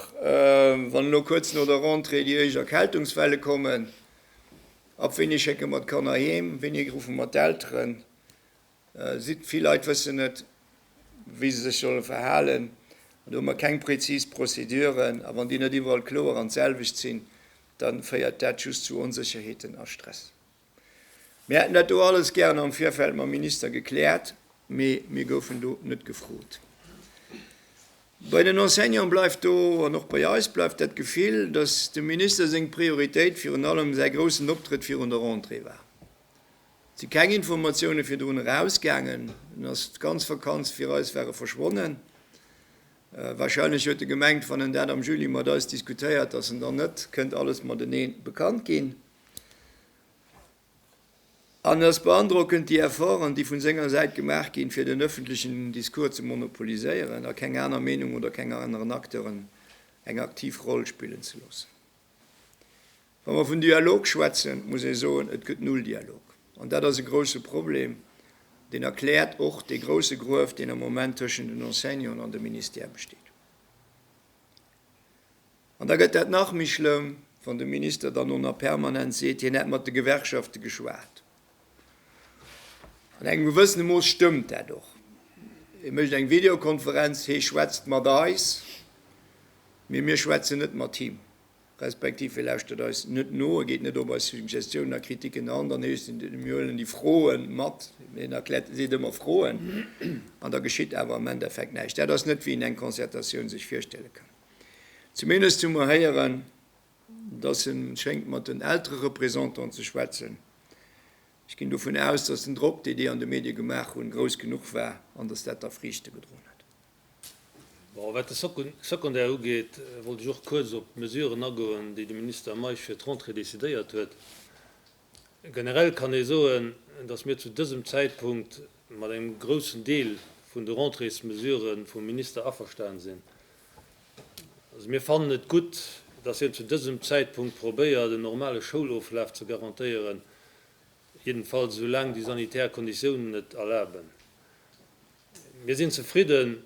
wann elo kuerz no der Rentrée déi éischt Erkältungswelle kommen, Ab wéini schécke mer d'Kanner heem? Wéini ruffe mer d'Elteren? Sidd. Vill Leit wëssen net, wéi se sech solle verhalen. Do hu mer keng präzis Prozeduren. A wann déi net iwwerall kloer an d'selwecht sinn, da féiert dat just zu Onsécherheeten a Stress. Mir hätten dat do alles gären am Virfeld mam Minister gekläert, mee mir goufen do net gefrot. Bei den Enseignante bleift do, an och bei eis, bleift dat Gefill, datt dem Minister seng Prioritéit virun allem säi groussen Optrëtt virun der Rentrée war. Et si keng Informatioune virdrun erausgaangen, dunn ass d'ganz Vakanz fir eis ware verschwonnen. Wahrscheinlech huet e gemengt, wann en dat am Juli mat eis diskutéiert, datt en dann net kënnt alles matenee bekannt ginn. En ass beandrockend, déi Efforten, déi vun senger Säit gemaach ginn, fir den ëffentlechen Discours ze monopoliséieren a keng aner Meenung oder keng aneren Acteuren eng aktiv Roll spillen ze loossen. Wa mer vun Dialog schwätzen, muss ee soen, et gëtt null Dialog. An dat ass e grouse Problem, deen erkläert och dee grouse Gruef, deen am Moment tëschent den Enseignanten an dem Ministère besteet. An da gëtt dat nach méi schlëmm, wann de Minister dann och nach permanent seet, hien hätt mat de Gewerkschafte geschwat. An engem gewëssene Mooss stëmmt dat och. Hie mécht eng Videokonferenz, hie schwätzt mat eis, mee mir schwätzen net mat him. respektiv e lauschtert eis net no, e geet net op eis Suggestiounen a Kritiken an, dann heescht et, mir huelen déi Froe mat, mee en erkläert, e seet ëmmer Froen, an da geschitt awer am Endeffekt näischt. Dat ass net, wéi een eng Concertatioun sech virstelle kann. Zumindest hu mer héieren, dass e schéngt mat den Eltererepresentanten ze schwätzen. Ech ginn dovun aus, dass den Drock, dee déi an de Medie gemaach hunn, grouss genuch war an dass dat da Friichte gedroen huet. Wat de Secondaire ugeet, wollt ech och kuerz op d'Mesuren agoen, déi de Minister Meisch fir d'Rentrée decidéiert huet. Generell kann ee soen, datt mir zu dësem Zäitpunkt mat engem groussen Deel vun de Rentréesmesurë vum Minister averstanen sinn. Also mir fannen et gutt, datt hien zu dësem Zäitpunkt probéiert, en normale Schouloflaf ze garantéieren, jiddefalls soulaang déi sanitär Konditiounen et erlaben. Mir sinn zefridden,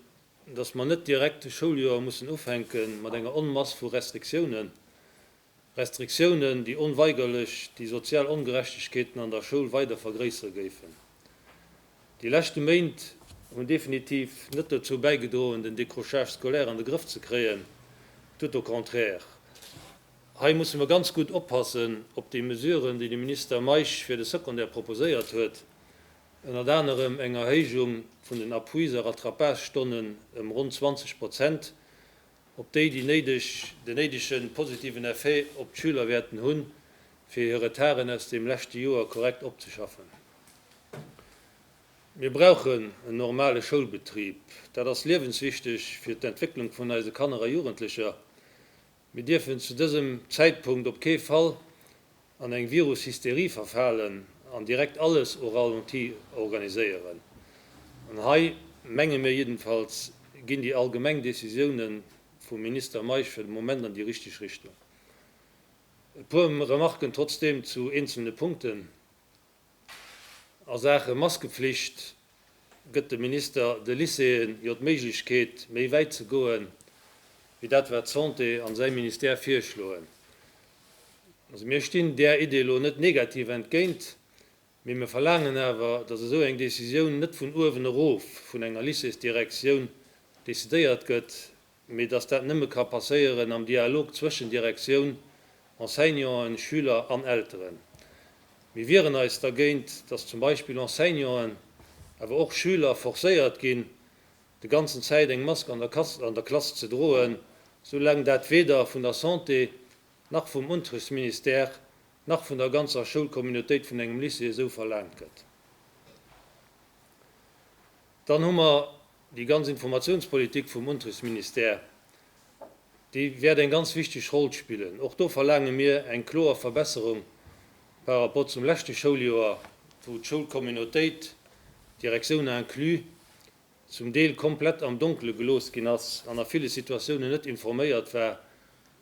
dass mer net direkt de Schouljoer mussen ufänke mat enger Onmass vu Restriktiounen, Restriktiounen, déi onweigerlech déi sozial Ongerechtegkeeten an der Schoul weider vergréissere géifen. Déi leschte Méint hunn definitiv net dozou bäigedroen, den Décrochage scolaire an de Grëff ze kréien, tout au contraire. Hei musse mer ganz gutt oppassen, ob déi Mesuren, déi de Minister Meisch fir de Secondaire proposéiert huet, Ënnert anerem eng Erhéijung vun den Appuis a Rattrapage-Stonnen ëm ronn 20 Prozent, op déi déi néideg, den néidege positiven Effet op d'Schüler wäerten hunn, fir hir Retarden aus dem leschte Joer korrekt opzeschaffen. Mir brauchen en normale Schoulbetrib. Dat ass liewenswichteg fir d'Entwécklung vun eise Kanner a Jugendlecher. Mir dierfen zu dësem Zäitpunkt op kee Fall an eng Virus-Hysterie verfalen an direkt alles au ralenti organiséieren. An hei, menge mir jiddenfalls, ginn déi allgemeng Décisiounen vum Minister Meisch fir de Moment an déi richteg Richtung. E puer Remarken trotzdem zu eenzelne Punkten. A Saache Maskeflicht gëtt de Minister de Lycéeën jo d'Méiglechkeet, méi wäit ze goen, wéi dat wat d'Santé an säi Ministère virschloen. Also mir stinn där Idee elo net negativ entgéint, mee mir verlaangen awer, datt esou eng Decisioun net vun uewen erof vun enger Lycéesdirektioun decidéiert gëtt, mee dass dat nëmme ka passéieren am Dialog zwëschen Direktioun, Enseignanten, Schüler an Elteren. Mir wieren eis dergéint, dass zum Beispill Enseignanten, awer och Schüler forcéiert ginn, de ganzen Zäit eng Mask an der Klass ze droen, soulaang dat weder vun der Santé nach vum Unterrichtsministère nach vun der ganzer Schoulcommunautéit vun engem Lycée esou verlaangt gëtt. Dann hu mer Déi ganz Informatiounspolitik vum Unterrichtsministère, déi wäert eng ganz wichteg Roll spillen. Och do verlaange mir eng kloer Verbesserung par rapport zum leschte Schouljoer, wou d'Schoulcommunautéit, Direktioune inclus, zum Deel komplett am Donkele gelooss ginn ass an a ville Situatiounen net informéiert war,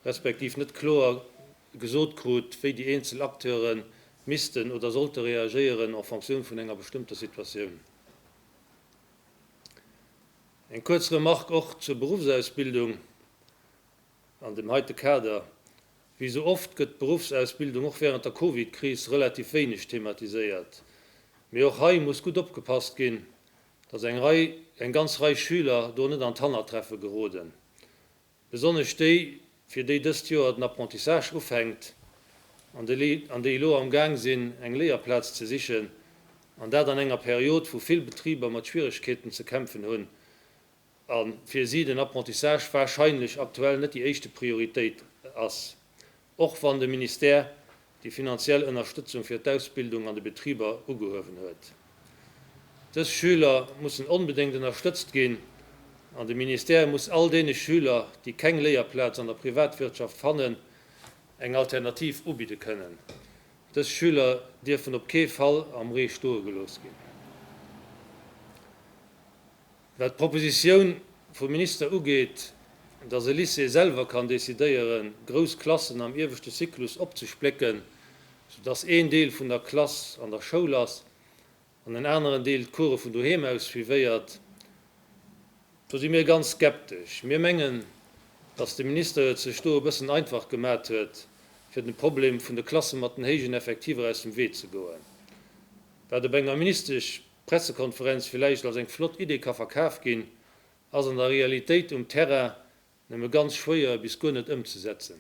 respektiv net kloer gesot krut, wéi déi eenzel Acteure missten oder sollte reagéieren en fonction vun enger bestëmmter Situatioun. Eng kuerz Remarque och zur Berufsausbildung an dem heite Kader. Wéi esou oft gëtt d'Berufsausbildung och während der Covid-Kris relativ wéineg thematiséiert. Mee och hei muss gutt opgepasst ginn, dass eng Rei, eng ganz Rei Schüler do net an d'Hannertreffe geroden. Besonnesch déi, fir déi dëst Joer den Apprentissage ufänkt an déi elo am Gaang sinn, eng Léierplaz ze sichen, an dat an enger Period, wou vill Betriber mat Schwieregkeeten ze kämpfen hunn, a fir si den Apprentissage warscheinlech aktuell net déi éischte Prioritéit ass, Och wann de Ministère déi finanziell Ënnerstëtzung fir d'Ausbildung an de Betriber ugehuewen huet. Dës Schüler mussen onbedéngt ënnerstëtzt ginn an de Ministère muss all deene Schüler, déi keng Léierplaz an der Privatwirtschaft fannen, eng Alternativ ubidde kënnen. Dës Schüler dierfen op kee Fall am Ree stoe gelooss ginn. Wat d'Propositioun vum Minister ugeet, datt e Lycée selwer kann decidéieren, grouss Klassen am ieweschte Zyklus opzesplécken, soudatt een Deel vun der Klass an der Schoul ass an en aneren Deel d'Coure vun doheem aus suivéiert, do si mir ganz skeptesch. Mir mengen, datt de Minister et sech do e bëssen einfach gemat huet, fir dem Problem vun de Klasse mat den héijen Effektiver aus dem Wee ze goen, wat op enger ministesch Pressekonferenz villäicht als eng flott Idee ka verkaf ginn, ass an der Realitéit um Terrain nëmme ganz schwéier bis guer net ëmzesetzen.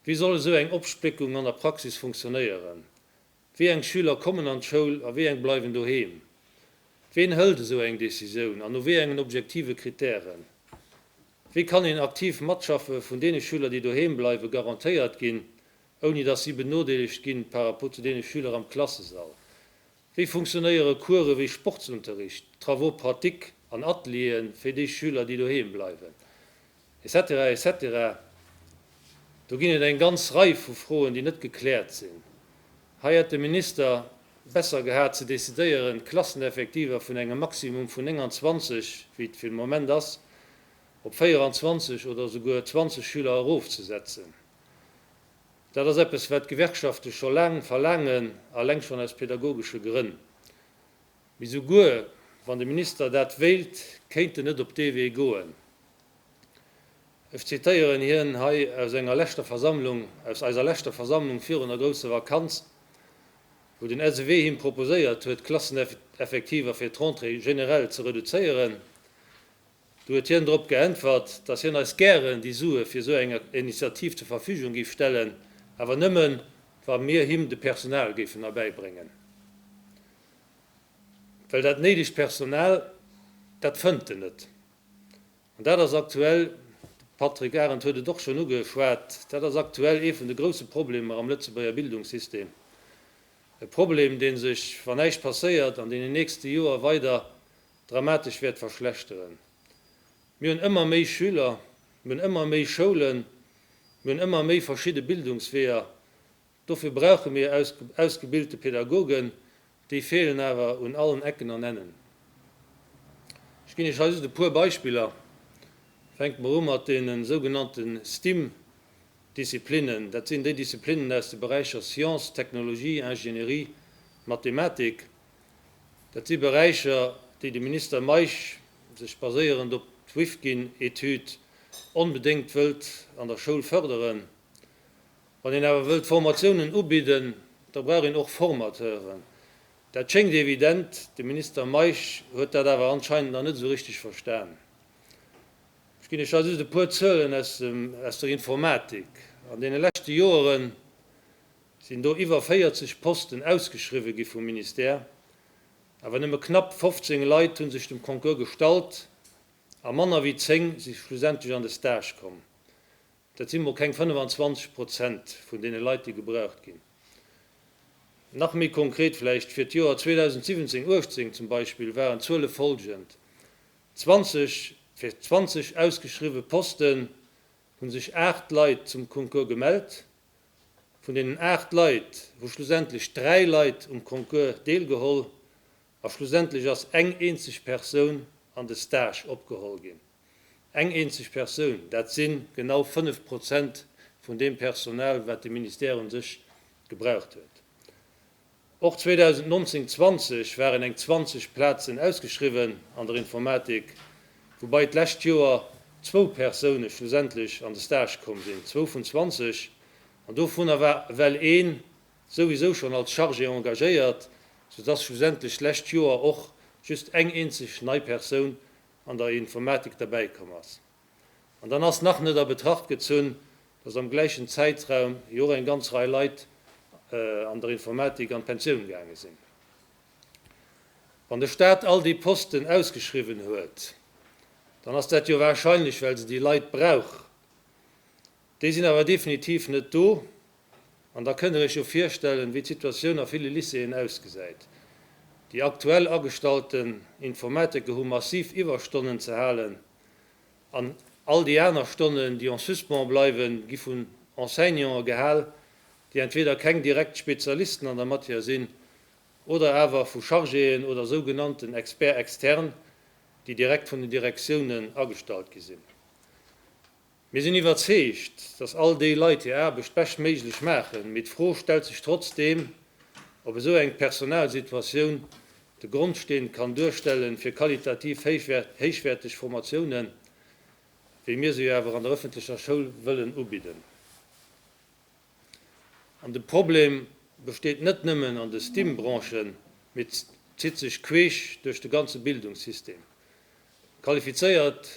Wéi soll esou eng Opspléckung an der Praxis funktionéieren? Wéi eng Schüler kommen an d'Schoul a wéi eng bleiwen doheem? Ween hëlt esou eng Decisioun an no wéi engen objektive Kritären? Wéi kann een aktiv Matschaffe vun deene Schüler, déi doheem bleiwe garantéiert ginn, ouni datt si benodeelegt ginn par rapport zu deene Schüler am Klassesall? Wéi funktionéiere Course wéi Sportsunterricht, Travaux pratiques an Ateliere fir déi Schüler, déi doheem bleiwen? Etc. Etc. Do ginn et eng ganz Rei vu Froen, déi net gekläert sinn. Hei hätt de Minister besser gehat ze decidéieren, d'Klasseneffektiver vun engem Maximum vun 29, wéi et fir de Moment ass, op 24 oder souguer 20 Schüler erofzesetzen. Dat ass eppes, wat d'Gewerkschafte scho laang verlaangen, alleng schonn aus pädagogesche Grënn. Mee souguer wann de Minister dat wéilt, kéint en net op dee Wee goen. Ech zitéieren hien hei aus enger leschter Versammlung, aus eiser leschter Versammlung virun der grousse Vakanz, wou den SEW him proposéiert huet, d'Klasseneffektiver fir d'Rentrée generell ze reduzéieren. Du huet hien drop geäntwert, dass hien eis gären déi Sue fir esou eng Initiativ zur Verfügung géif stellen, awer nëmmen, wa mir him de Personal géifen erbäibréngen. Well dat néidegt Personal, dat fënnt en net. An dat ass aktuell, de Patrick Arendt huet et och schonn ugeschwat, dat ass aktuell ee vun de grouse Problemer am Lëtzebuerger Bildungssystem. E Problem, dee sech, wann näischt passéiert, an deenen nächste Joer weider dramatesch wäert verschlechteren. Mir hunn ëmmer méi Schüler, mir hunn ëmmer méi Schoulen, mir hunn ëmmer méi verschidde Bildungsweeër. Dofir brauche mir ausgebilte Pädagogen, déi feelen awer un allen Ecken an Ennen. Ech ginn Iech hei just e puer Beispiller, Fänke mer u mat deene sougenannte STEAM-Disziplinnen, dat sinn déi Disziplinnen aus de Beräicher Science, Technologie, Ingénierie, Mathematik. Dat si Beräicher, déi de Minister Meisch sech baséierend op d'Wifkin-Etüd onbedéngt wëllt an der Schoul fërderen. Wann een awer wëllt Formatiounen ubidden, da brauch een och Formateuren. Dat schéngt evident, de Minister Meisch huet dat awer anscheinend nach net esou richteg verstan. Ech ginn lech hei just e puer Zuelen aus der Informatik, An deene leschte Joeren sinn do iwwer 40 Posten ausgeschriwwe gi vum Ministère, awer nëmme knapp 15 Leit hu sech dem Concours gestallt a manner wéi 10 si schlussendlech an de Stage komm. Dat si mol keng 25 Prozent vun deene Leit, déi gebraucht ginn. Nach méi konkret vläicht, Fir d'Joer 2017, 18 zum Beispill waren d'Zuele folgend, 20 Fir 20 ausgeschriwwe Posten hu sech 8 Leit zum Concours gemellt, Vun deenen 8 Leit hu schlussendlech 3 Leit um Concours deelgeholl a schlussendlech ass eng eenzeg Persoun an de Stage opgeholl ginn. Eng eenzeg Persoun, dat si genau 5 Prozent vun deem Personal, wat de Ministère u sech gebraucht huet. Och 2019/20 waren eng 20 Plazen ausgeschriwwen an der Informatik, woubai d'lescht Joer zwou Persoune schlussendlech an de Stage komm sinn, zwou vun 20, an dovunner war ewell een souwisou schonn als Chargé engagéiert, soudass schlussendlech d'lescht Joer och just eng eenzeg nei Persoun an der Informatik derbäikomm ass. An dann ass nach net a Betracht gezunn, dass am gläichen Zäitraum jo och eng ganz Rei Leit an der Informatik an d'Pensioun gaange sinn. Wann de Staat all déi Posten ausgeschriwwen huet, dann ass dat jo warscheinlech, well se déi Leit brauch. Déi sinn awer definitiv net do. An da kënnt Der Iech jo virstellen, wéi d'Situatioun a ville Lycéeën ausgesäit. Déi aktuell agestalten Informatiker hu massiv Iwwerstonnen ze halen. An all déi aner Stonnen, déi en suspens bleiwen, gi vun Enseignanten gehal, déi entweder keng direkt Spezialisten an der Matière sinn oder awer vu Chargéen oder sougenannten Experts externes, déi direkt vun den Direktiounen agestallt gi sinn. Mir sinn iwwerzeegt, dass all déi Leit hir Aarbecht beschtméiglech maachen, mee d'Fro stellt sech trotzdeem, ob esou eng Personalsituatioun de Grondsteen kann duerstellen, fir qualitativ héichwäerteg Formatiounen, wéi mir se jo awer an der ëffentlecher Schoul wëllen ubidden. An de Problem besteet net nëmmen an de Stim-Branchen, mee zitt sech queesch duerch de ganze Bildungssystem. Qualifizéiert.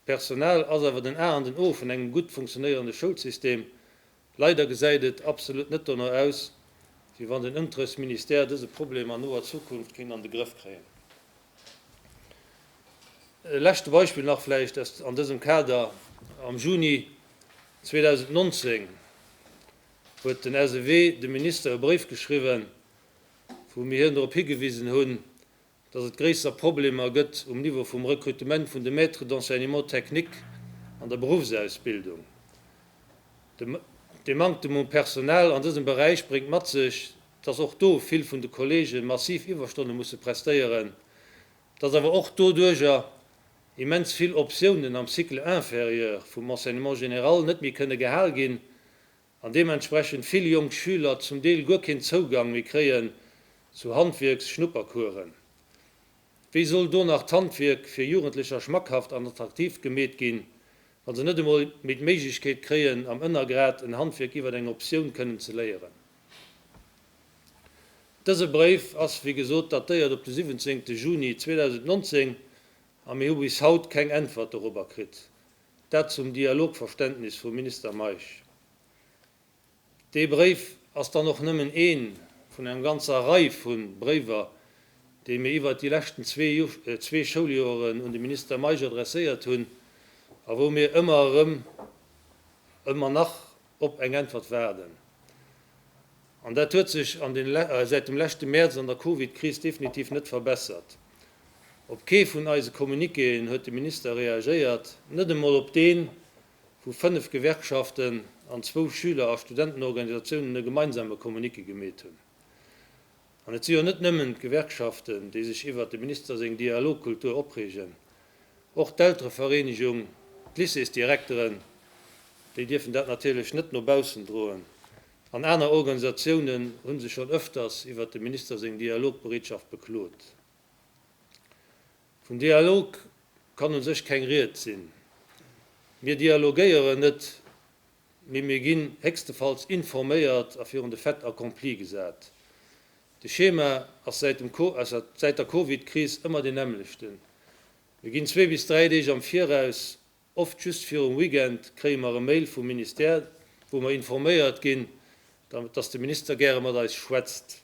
D'Personal ass awer den A an den O vun engem gutt funktionéierende Schoulsystem. Leider gesäit et absolut net dono aus, wéi wann den Unterrichtsministère dëse Problem an noer Zukunft kéint an de Grëff kréien. E leschte Beispill nach vläicht aus an dësem Kader, Am Juni 2019 huet den SEW dem Minister e Bréif geschriwwen, wou mir hien drop higewisen hunn, dass et gréisser Problemer gëtt um Niveau vum Rekrutement vun de Maîtres d'enseignement technique an der Beruffsausbildung. De Manktem um Personal an dësem Beräich bréngt mat sech, dass och do vill vun de Kollege massiv Iwwerstonne musse prestéieren, dass awer och doduerjer immens vill Optiounen am Cycle inférieur vum Enseignement général net méi kënne gehal ginn. an deementsprechend vill jonk Schüler zum Deel guer keen Zougang méi kréien zu Handwierks-Schnuppercoursen. Wéi soll do nach d'Handwierk fir Jugendlecher schmackhaft an attraktiv gemeet ginn, wa se net emol méi d'Méiglechkeet kréien, am Ënnergrad en Handwierk iwwer eng Optioun kënnen ze léieren? Dëse Bréif ass, wéi gesot, datéiert op de 17 Juni 2019 a mir hu bis haut keng Äntwert dorobber kritt. Dat zum Dialogverständnis vum Minister Meisch. Dee Bréif ass dann och nëmmen ee vun enger ganzer Rei vu Bréiwer, déi mir iwwert déi leschten zwee Schouljoeren un de Minister Meisch adresséiert hunn a wou mir ëmmer erëm, ëmmer nach op eng Äntwert waarden. An dat huet sech an den säit dem leschte Mäerz an der Covid-Kris definitiv net verbessert. Op kee vun eise Communiquéen huet de Minister reagéiert, net emol op deen, wou fënnef Gewerkschaften an zwou Schüler a Studentenorganisatiounen e gemeinsame Communiqué gemeet hunn. An et si jo net nëmmen d'Gewerkschaften, déi sech iwwert dem Minister seng Dialogkultur opreegen, och d'Elterevereenegung, d'Lycéesdirekteren, déi dierfen dat natierlech net no baussen droen. An aner Organisatiounen hu sech schonn ëfters iwwert dem Minister seng Dialogbereetschaft beklot. Vun Dialog kann u sech keng Ried sinn. Mir dialogéieren net, mee mir ginn héchstefalls informéiert a virun de Fait accompli gesat. De Schema ass säit dem säit der Covid-Kris ëmmer deen nämmlechten, Mir ginn zwee bis dräi Deeg am Viraus Oft just virum Weekend kréie mer e Mail vum Ministère, wou mer informéiert ginn, dass de Minister gäre mat eis schwätzt.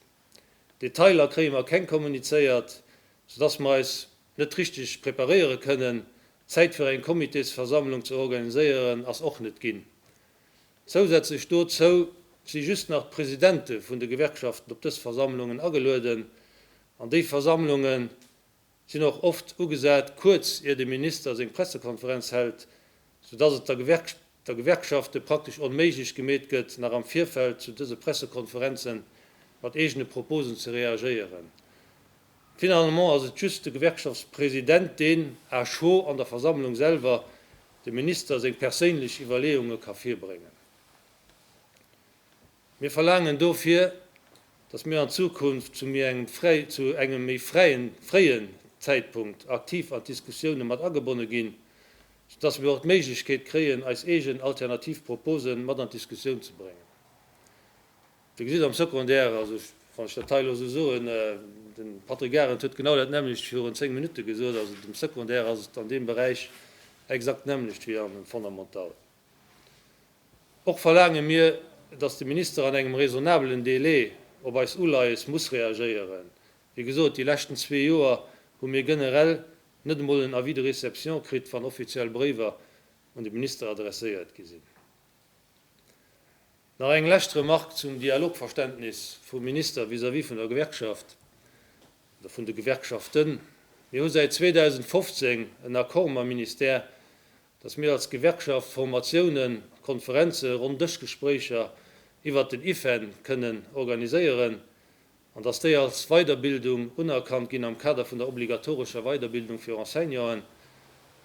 Detailer kréie mer keng kommunizéiert, soudass mer eis net richteg preparéiere kënnen. Zäit fir eng Comitésversammlung ze organiséieren ass och net ginn. Zousätzlech dozou si just nach d'Presidente vun de Gewerkschaften op dës Versammlungen agelueden, an déi Versammlungen sinn och oft ugesat kuerz ier de Minister seng Pressekonferenz hält, sou dass et der Gewerkschafte praktesch onméiglech gemeet gëtt nach am Virfeld zu dëse Pressekonferenzen mat eegene Proposen ze reagéieren. Finalement ass et just de Gewerkschaftspresident deen, à chaud an der Versammlung selwer, dem Minister seng perséinlech Iwwerleeunge ka virbréngen. Mir verlaangen dofir, dass mir an Zukunft zu méi engem fräi, zu engem méi fräien, fréien Zäitpunkt aktiv an d'Diskussioune mat agebonne ginn, soudass mir och d'Méiglechkeet kréien, eis eegen alternativ Proposen mat an d'Diskussioun ze bréngen. Dir gesitt am Secondaire, also wann ech dat hei elo esou soen, de Patrick Arendt huet genau dat nämmlecht virun zéng Minutte gesot, also dem Secondaire ass et an deem Beräich exakt d'nämmlecht wéi am Fondamentalen. Och verlaange mir, dass de Minister an engem raisonnabelen Délai op eis Uleies muss reagéieren. Wéi gesot, déi leschten zwee Joer hu mir generell net emol en Avis de réception kritt, wann offiziell Bréiwer un de Minister adresséiert gi sinn. Nach eng lescht Remark zum Dialogverständnis vum Minister vis-à-vis vun der Gewerkschaft oder vun de Gewerkschaften. Mir hu säit 2015 en Accord mam Ministère, dass mir als Gewerkschaft Formatiounen, Konferenzen, Ronndëschgespréicher iwwert den IFEN kënnen organiséieren an dass déi als Weiderbildung unerkannt ginn am Kader vun der obligatorescher Weiderbildung fir Enseignanten,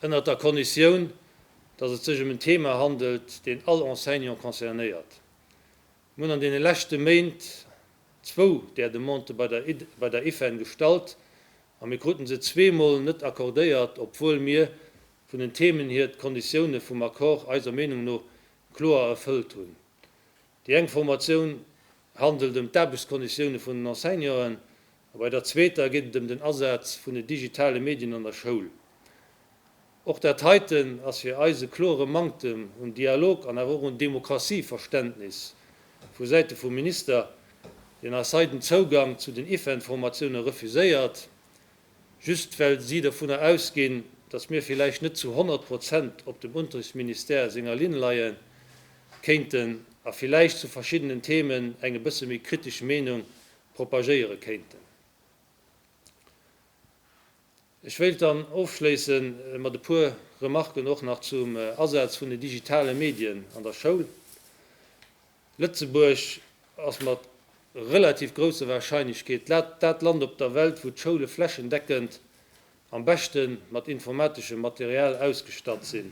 ënnert der Konditioun, dass et sech ëm en Thema handelt, deen all Enseignant concernéiert. Mir hunn an deene leschte Méint zwou där Demandë bei der IFEN gestallt a mir kruten se zweemol net accordéiert, obwuel mir vun den Themen hier d'Konditioune vum Accord eiser Meenung no kloer erfëllt hunn. Déi eng Formatioun handelt ëm d'Aarbechtskonditioune vun den Enseignanten a bei der zweeter geet et ëm den Asaz vun den digitale Medien an der Schoul. Och dat heiten ass fir eis e klore Manktem un Dialog an awer och un Demokratieverständnis vu Säite vum Minister, deen eis hei den Zougang zu den IFEN-Formatioune refuséiert Just well si dovunner ausginn, datt mir villäicht net zu 100 Prozent op dem Unterrichtsministère senger Linn leie kéinten a villäicht zu verschiddenen Themen eng e bësse méi kritesch Meenung propagéiere kéinten. Ech wéilt dann ofschléisse mat e puer Remarken och nach zum Asaz vun den digitale Medien an der Schoul. Lëtzebuerg ass mat relativ grousser Warscheinlechkeet dat Land op der Welt, wou d'Schoule flächendeckend am beschte mat informateschem Material ausgestatt sinn.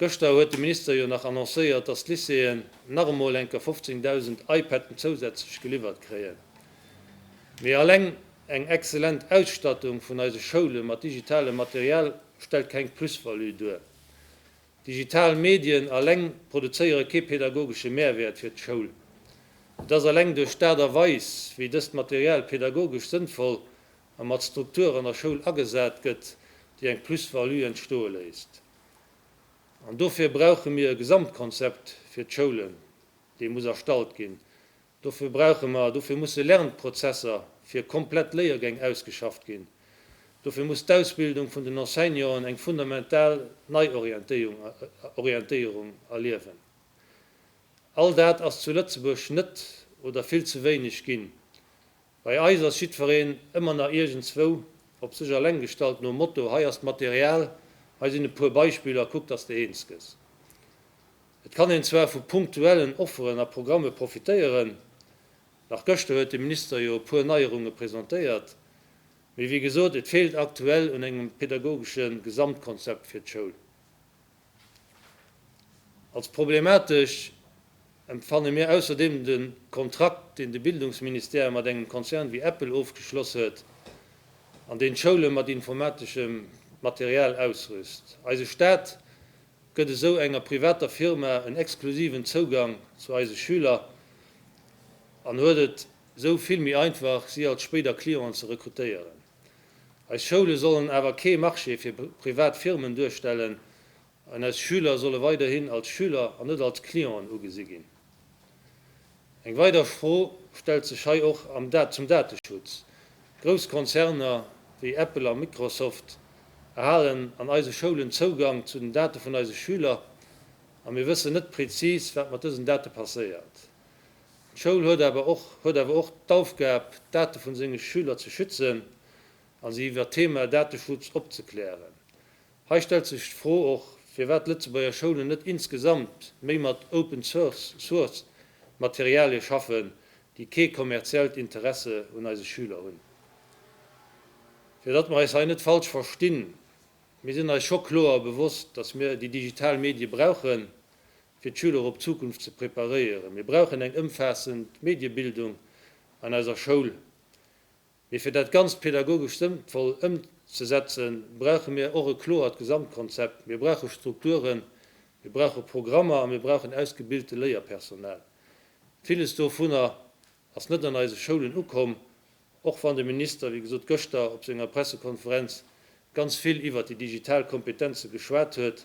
Gëschter huet de Minister jo nach annoncéiert, datt d'Lycéeën nach emol enker 15.000 iPaden zousätzlech geliwwert kréien. Mee alleng eng excellent Ausstattung vun eise Schoule mat digitalem Material stellt keng Plus-value duer. Digital Medien alleng produzéiere kee pädagogesche Mehrwäert fir d'Schoul. Et ass alleng duerch d'Aart a Weis, wéi dëst Material pädagogesch sënnvoll a mat Struktur an der Schoul agesat gëtt, déi eng Plus-value entstoe léisst. An dofir brauche mir e Gesamtkonzept fir d'Schoulen, dee muss erstallt ginn, Dofir brauche mer, dofir musse Lernprozesser fir komplett Léiergäng ausgeschafft ginn. Dofir muss d'Ausbildung vun den Enseignanten eng fundamental Neiorientéierung erliewen. All dat ass zu Lëtzebuerg net oder vill ze wéineg ginn. Bei eis ass jiddwereen ëmmer nach iergendzwou op sech alleng gestallt, nom Motto, hei ass d'Material, hei sinn e puer Beispiller, kuck dass de eens gëss. Et kann een zwar vu punktuellen Offeren a Programme profitéieren, nach gëschter huet de Minister jo e puer Neierunge presentéiert, mee wéi gesot, et feelt aktuell un engem pädagogesche Gesamtkonzept fir d'Schoul. Als problematesch empfanne mir ausserdeem de Kontrakt, deen de Bildungsministère mat engem Konzern wéi Apple ofgeschloss huet an deen d'Schoule mat informateschem Material ausrüst. Eise Staat gëtt esou enger privater Firma en exklusiven Zougang zu eise Schüler an huet et esou vill méi einfach, si als spéider Clienten ze rekrutéieren. Eis Schoule sollen awer kee Marché fir privat Firmen duerstellen an eis Schüler solle weiderhin als Schüler an net als Clienten ugesi ginn. Eng weider Fro stellt sech hei och zum Dateschutz. Grouss Konzerner wéi Apple a Microsoft erhalen an eise Schoulen Zougang zu den Date vun eise Schüler a mir wëssen net prezis, wat mat dësen Date passéiert. D'Schoul huet awer och huet awer och d'Aufgab, d'Date vun senge Schüler ze schützen a si iwwert d'Thema Dateschutz opzeklären. Hei stellt sech d'Fro och, firwat d'Lëtzebuerger Schoulen net insgesamt méi mat Open Source Materialie schaffen, déi kee kommerziellt Interesse un eise Schüler hunn. Fir datt mer eis hei net falsch verstinn, Mir sinn eis scho kloer bewosst, datt mir déi digital Medie brauchen, fir d'Schüler op d'Zukunft ze preparéieren. Mir brauchen eng ëmfaassend Mediebildung an eiser Schoul. Mee fir dat Ganzt pädagogesch sënnvoll ëmzesetzen, brauche mir och e kloert Gesamtkonzept. Mir brauche Strukturen, mir brauche Programmer a mir brauchen ausgebilte Léierpersonal. Villes dovunner ass net an eise Schoulen ukomm, och wann de Minister, wéi gesot, gëschter op senger Pressekonferenz ganz vill iwwert déi digital Kompetenze geschwat huet.